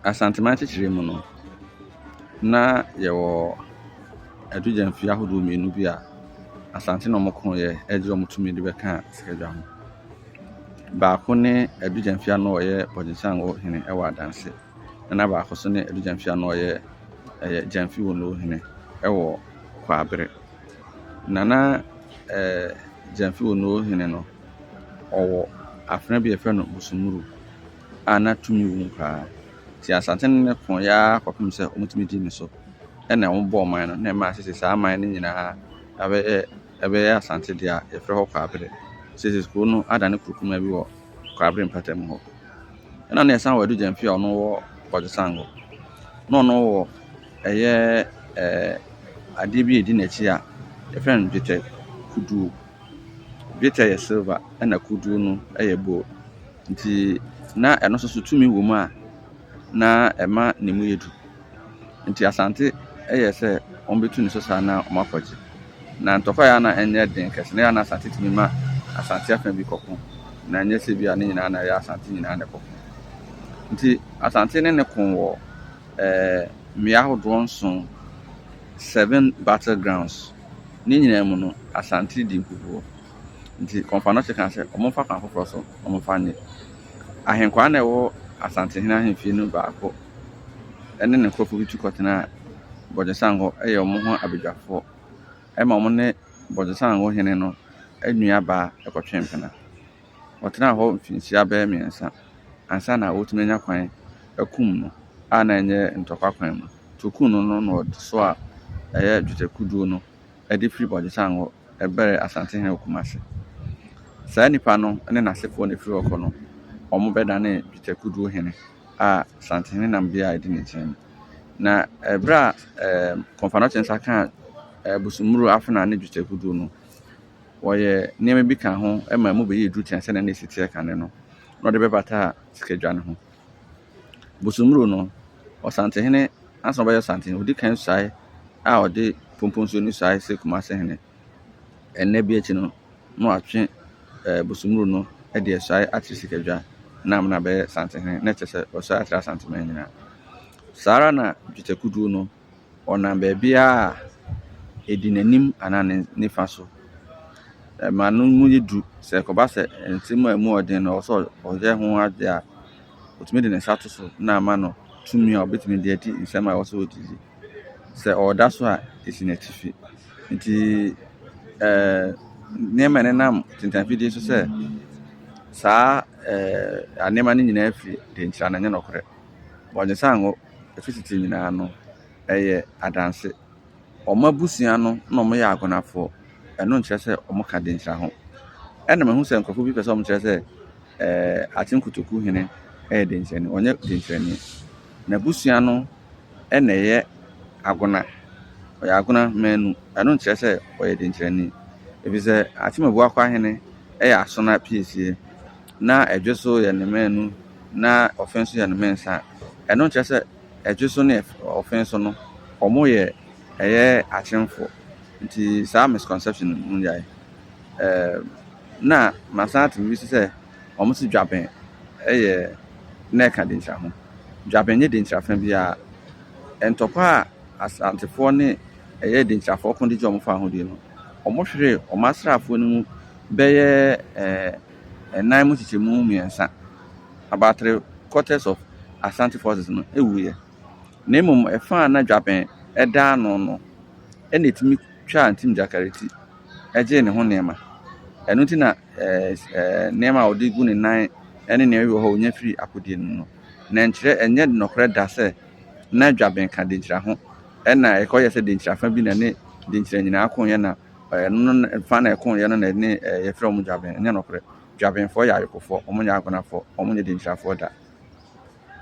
Asantehene nkyekyerem mu no, na yɛwɔ adugyamfie ahodoɔ mmienu bi a Asante na wɔkoeɛ de wɔn tumi de bɛkaa sikadwa ho. Baako ne adugyamfie a na ɔyɛ Bɔgyesangɔ hene wɔ Adanse, ɛna baako nso ne adugyamfie a na ɔyɛ ɛyɛ Gyamfi Wono hene wɔ Kwabre. Na na ɛɛ Gyamfi Wono hene no, ɔwɔ afena bi a wɔfrɛ no Musumuru. a na tumi wɔ mu paa. Nti Asante no ne koo yɛ ara kɔpem sɛ ɔmo tumi dii ne so. Ɛna ɔmo bɔɔ man no na ɛmaa sese saa man no nyinaa abɛyɛ ɛbɛyɛ Asante dea a yɛfrɛ hɔ Kwabre. Sese kuro no adane kuro kumaa bi wɔ Kwabre mpɛtɛm hɔ. Ɛna ne yɛsan wɔ Adu Gyamfi a ɔno wɔ Ɔdzesango. Na ɔno wɔ ɛyɛ ɛɛ adeɛ bi a edi n'akyi a yɛfrɛ no Dwetɛ Kuduo. Dwetɛ yɛ silver ɛna kuduo no ɛyɛ gold. Nti na ɛno nso so tumi wɔ mu a na ɛma ne mu yɛ duru. Nti Asante yɛɛ sɛ wɔbɛtu ne so saa na wɔakɔgye. Na ntɔkwa yɛ a na ɛnyɛ den kɛse, na ɛyɛ a na Asante tumi ma Asante afa bi kɔko, na ɛnyɛ sɛ bi a ne nyinaa na ɛyɛ Asante nyinaa na ɛkɔko. Nti Asante ne ne ko wɔ eh, mmea ahodoɔ nson, seven battle grounds, ne nyinaa mu no Asante di nkukuo. Nti Kɔmfanohye kaa sɛ, wɔmfa kwan foforɔ so, wɔmfa nnye. Ahenkwaa no a ɛwɔ Asantehene ahemfie no mu baako ne ne nkurɔfoɔ bi tu kɔtenaa Bɔdwesango yɛ wɔn ho abadwafoɔ ma wɔn ne Bɔdwesango hene no nuabaa kɔtwee mpena. Wɔtenaa hɔ mfinhyia bɛyɛ mmiɛnsa ansa na wɔtumi anya kwan akum no a na ɛnyɛ ntɔkwa kwan mu. Nti wɔkum no no na wɔde soaa ɛyɛ dwetɛ kuduo no de firi Bɔgyesan hɔ bɛrɛ Asantehene wɔ Kumase. Saa nipa no ne n'asefoɔ na ɛfiri hɔ kɔ no, wɔbɛdanee Dwetɛ Kodoɔ Hene a Asantehene nam bia a ɛdi ne nkyɛn mu. Na ɛberɛ a ɛɛm Kɔmfanokyinsa kaa Bosommuro Afena ne Dwetɛ Kodoɔ no, wɔyɛ nneɛma bi kaa ho ma ɛmu bɛyɛɛ duru tiaa sɛdeɛ na ɛsi teɛ kane no na wɔde bɛbataa Sikadwa no ho. Bosommuro no, Ɔsantehene ansa na ɔbɛyɛ Ɔsantehene no, ɔdi kan suae a ɔde Pompong Nsuo no suae sɛ Kumasehene. Ɛnnɛ bi akyi no, na watwe ɛɛ Bosommuro no de asuae akyerɛ Sikadwa na ama no abɛyɛ Santehene, na ɛkyerɛ sɛ wasuae akyerɛ Asanteman nyinaa. Saa ara na Dwetɛ Kuduo no. Ɔnam baabiara a, ɛdi n'anim anaa ne nifa so. Ɛma no mu yɛ duru. Sɛ ɛkɔba sɛ nte mu a emu yɛ den no, ɛwɔ sɛ ɔyɛ ho ade a, ɔtumi de ne nsa to so na ama no tumi a ɔbɛtumi de adi nsɛm a ɛwɔ sɛ ɔdi. Sɛ ɔda so a, ɛsi n'atifi. Nti ɛɛ nneɛma a ɛnenam ntentanefidie so sɛ saa ɛɛ nneɛma no nyinaa firi deɛ nti a, ɛnyɛ nokorɛ. Wɔnnye sɛ anwo . Efi tsetse nyina no, ɛyɛ adanse. Wɔn abusua no na wɔyɛ akonafoɔ. Ɛno nkyerɛ sɛ wɔka denkyira ho. Ɛna mahu sɛ nkorɔfoɔ bi pɛ sɛ wɔkyerɛ sɛ Atem Kotoku hene yɛ denkyirani. Ɔnyɛ denkyirani. N'abusua no na ɛyɛ Agona. Ɔyɛ Agona manu. Ɛno nkyerɛ sɛ ɔyɛ denkyirani. Ɛfiri sɛ Atem Abuakwa hene yɛ Asona piesie. na ɛdwe so yɛ ne mmaanu na ɔfe nso yɛ ne mmensa a, ɛno nkyerɛ sɛ ɛdwe so ne ɔfe nso no, wɔyɛ ɛyɛ akyemfo. Nti saa misconception no monnyae. Ɛɛm, na masan ate biribi nso sɛ wɔse dwaben yɛ na ɛka denkyira ho. Dwaben nyɛ denkyira fa biara. Ntɔkwa a Asantefoɔ ne ɛyɛ denkyirafoɔ ko de gye wɔn faa ahodie no, wɔhweree wɔn asraafoɔ no mu bɛyɛ ɛɛ. ɛnan mu kyekyɛmu mmiɛnsa, about three quarters of Asante forces no, wuiɛ. Na mmom ɛfã a na dwabɛn da ano no na ɛtumi twaa Ntim Gyakare ti gyee ne ho nneɛma. Ɛno nti na nneɛma a ɔde gu ne nan ne nea ɛwɔ hɔ a ɔnya firi akodeɛ no mu no, na ɛnkyerɛ, ɛnyɛ nɔkorɛ da sɛ na dwabɛn ka denkyira ho, ɛnna ɛkɔyɛ sɛ denkyira fa bi na ɛne denkyira nyinaa ko yɛ na Ɛno no ne- fa na ɛko yɛ no na ɛne eh, yɛfrɛ wɔn Dwaben. Ɛnyɛ nokorɛ. Dwabenfoɔ yɛ ayekofoɔ. Wɔnyɛ agonafoɔ. Wɔnyɛ dinkyirafoɔ da.